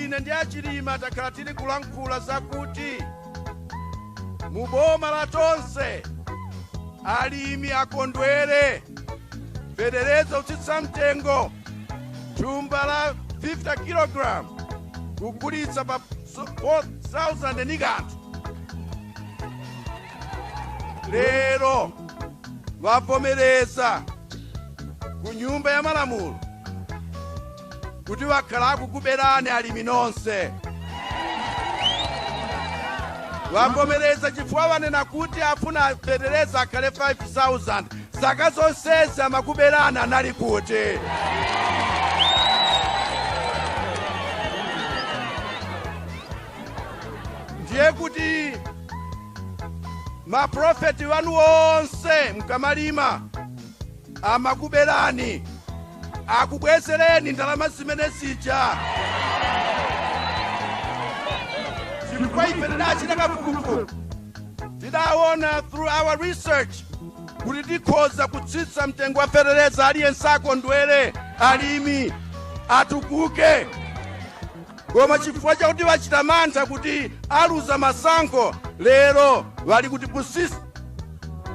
ine ndi achilima takhala tili kulankhula zakuti mu boma la tonse alimi akondwere fetereza kutsitsa mtengo thumba la 50 kg kugulitsa pa 4000 ndi kanthu lero wavomereza ku nyumba ya malamulo kuti wakhala akukuberani alimi nonse wavomereza chifukwa wanena kuti afuna fetereza akhale 5000 zaka zonsezi amakuberani anali kuti ndiye kuti maprofiti wanu onse mkamalima amakubelani akubwezeleni ndalama zimene zija chifukwa ife tidachita kafukufuku tidawona through our research kuti tikhoza kutsitsa mtengo wa fetereza aliyense akondwere alimi atukuke koma chifukwa chakuti bachita mantha kuti aluza masankho lero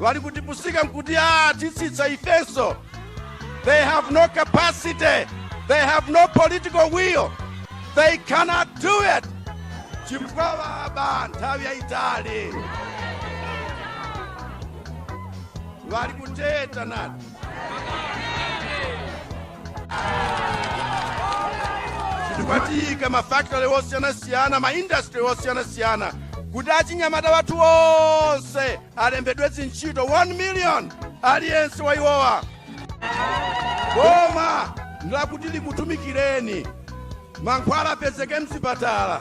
bali kutipusika nkuti a tatsitsa ifenso they have no capacity they have no political will they cannot do it chifukwa baba nthawi yayitali bali kuteta nati tikwatika mafakitori osiyanasiyana maindasitri osiyanasiyana kuti achinyamata wathu onse alembedwe zintchito 1 million aliyense wa iwowa boma ndilakuti likutumikireni mankhwala apezeke mzipatala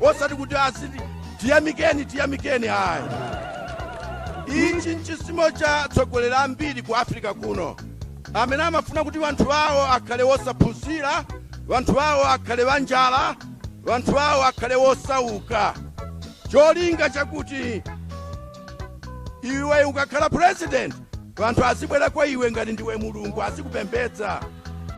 osati kuti aziti tiyamikeni tiyamikeni ayi ichi nchizimo cha atsogoleri ambiri ku africa kuno amene amafuna kuti wanthu awo akhale wosaphunzira wanthu awo akhale wanjala wanthu awo akhale wosauka cholinga chakuti iwe ukakhala president wanthu azibwera kwa iwe ngati ndiwe mulungu azikupembedza